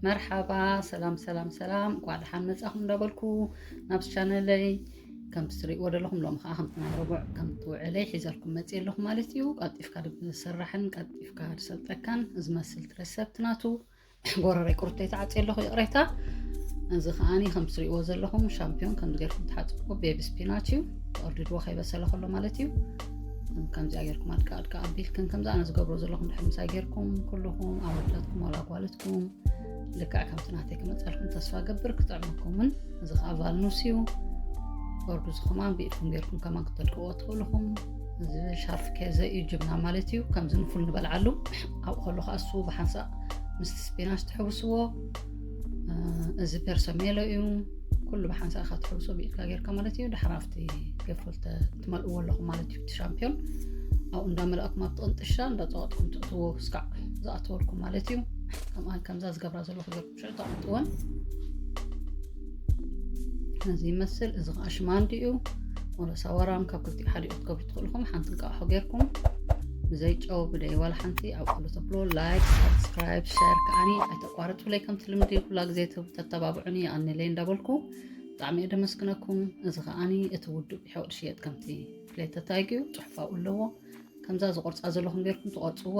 መርሓባ ሰላም ሰላም ሰላም እኳ ደሓን መፃኹም እንዳበልኩ ናብ ቻነለይ ከምቲ ትሪእዎ ዘለኹም ሎሚ ከዓ ከምቲ ናይ ረቡዕ ከምቲ ውዕለይ ሒዘልኩም መፅእ ኣለኹ ማለት እዩ ቀልጢፍካ ዝስራሕን ቀልጢፍካ ዝሰልጠካን ዝመስል ትረሰብቲ ናቱ ጎረረይ ቁርተይ ተዓፅየ ኣለኹ ይቕሬታ እዚ ከዓኒ ከም ትሪእዎ ዘለኹም ሻምፒዮን ከምዚ ጌርኩም ትሓፅብዎ ቤቢ ስፒናች እዩ ተቐርድድዎ ከይበሰለ ከሎ ማለት እዩ ከምዚኣ ጌርኩም ኣድካ ኣድካ ኣቢልክን ከምዚ ኣነ ዝገብሮ ዘለኹም ድሕር ምሳይ ጌርኩም ኩልኹም ኣወዳትኩም ዋላ ጓልትኩም ልክዕ ከምቲ ናተይ ክመፀልኩም ተስፋ ገብር ክጥዕመኩምን እዚ ከዓ ቫልኑስ እዩ ወርዱ ዝኸማን ብኢድኩም ጌርኩም ከማን ክተድቅዎ ትኽእልኹም እዚ ሻርፍ ከዘ እዩ ጅብና ማለት እዩ ከምዚ ንፉል ንበልዓሉ ኣብኡ ከሎ ከዓ እሱ ብሓንሳእ ምስቲ ስፒናሽ ትሕውስዎ እዚ ፐርሰሜሎ እዩ ኩሉ ብሓንሳእ ኢካ ትሕውሶ ብኢድካ ጌርካ ማለት እዩ ድሓር ኣብቲ ገፍል ትመልእዎ ኣለኹም ማለት እዩ እቲ ሻምፒዮን ኣብኡ እንዳመላእኩም ኣብቲ ቅንጥሻ እንዳፀወጥኩም ትእትዎ ስካዕ ዝኣተወልኩም ማለት እዩ ከምኣ ከምዛ ዝገብራ ዘለኹ ሸጣሕትወን ነዚ ይመስል እዚ ከዓ ሽማንዲ እዩ ወረሳ ወራም ካብ ክልቲኡ ሓደ ክትገብሩ ትኽእልኹም ሓንቲ እንቃሖ ጌርኩም ብዘይ ጨው ብደይ ዋላ ሓንቲ ኣብ ኩሉ ተብሎ ላይክ ሳብስክራይብ ሸር ከዓኒ ኣይተቋርፅ ብለይ ከምቲ ልምዲ ኩላ ግዜ ተተባብዑኒ ይኣኒለይ እንዳበልኩ ብጣዕሚ እየ ደመስግነኩም እዚ ከዓኒ እቲ ውዱእ ብሕቕድ ሽየጥ ከምቲ ፍሌተታይግ እዩ ፅሑፋኡ ኣለዎ ከምዛ ዝቆርፃ ዘለኹም ጌርኩም ትቆርፅዋ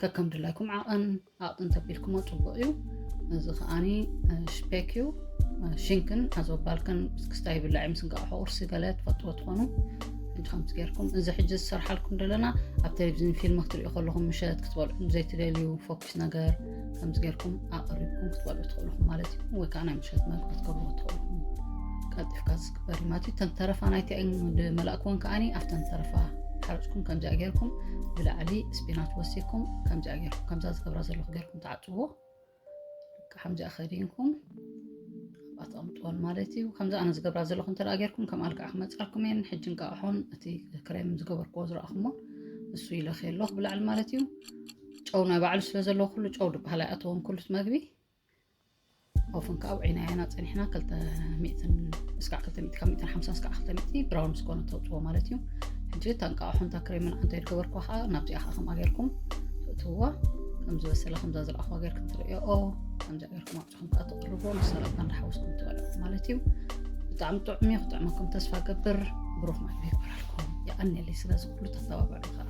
ከከም ድላይኩም ዓቐን ኣቕጥን ተቢልኩሞ ፅቡቅ እዩ እዚ ከዓኒ ሽፔክ እዩ ሽንክን ኣዘባልክን ክስታ ይብላዕ ምስ እንቃቑሖ ቁርሲ ገለ ትፈጥዎ ትኾኑ ሕጂ ከምዚ ጌርኩም እዚ ሕጂ ዝሰርሓልኩም ዘለና ኣብ ቴሌቭዥን ፊልም ክትሪኦ ከለኹም ምሸት ክትበልዑ ዘይትደልዩ ፎኪስ ነገር ከምዚ ጌርኩም ኣቐሪብኩም ክትበልዑ ትኽእልኹም ማለት እዩ ወይ ከዓ ናይ ምሸት መግቢ ክትገብርዎ ትኽእልኹም ቀልጢፍካ ክበሪ ማለት እዩ እተን ተረፋ ናይቲ መላእክዎን ከዓኒ ኣብተን ተረፋ ሓርፅኩም ከምዚኣ ጌርኩም ብላዕሊ ስፒናች ወሲኩም ከምዚኣ ጌርኩም ከምዛ ዝገብራ ዘለኹ ጌርኩም ተዓፅዎ ከምዚኣ ከዲንኩም ኣተቐምጥዎን ማለት እዩ ከምዚ ኣነ ዝገብራ ዘለኹ እንተ ጌርኩም ከም ኣልክዓ ክመፅኣኩም እየን ሕጂ እንቃዕሖን እቲ ክሬም ዝገበርክዎ ዝረኣኹሞ እሱ ይለኽ ኣሎ ብላዕሊ ማለት እዩ ጨው ናይ ባዕሉ ስለ ዘለዎ ኩሉ ጨው ድበሃል ኣይኣተዎም ኩሉት መግቢ ኦፍን ከዓ ውዒና ያና ፀኒሕና ክልተ ሚእትን እስካዕ ክልተ ሚእቲ ካብ ሚእትን ሓምሳን እስካዕ ክልተ ሚእቲ ብራውን ምስ ኮነ ተውፅዎ ማለት እዩ ሕጂ እታ እንቃቑሖ እንታ ክሬምን ኣንተ ይድገበርኩ ከዓ ናብዚኣ ከዓ ከምኣ ጌርኩም ትእትውዋ ከም ዝበሰለ ከምዛ ዝለኣኹዋ ጌርኩም ትርእዮ ከምዚ ጌርኩም ኣብፅኹም ከዓ ተቕርቦ ምስ ሰላጣ እንዳሓወስኩም ትበልዑ ማለት እዩ ብጣዕሚ ጥዑም እዩ ክጥዕመኩም ተስፋ ገብር ብሩኽ መግቢ ይግበረልኩም ይቐኒለይ ስለዚ ኩሉ ተተባበዑ ከዓ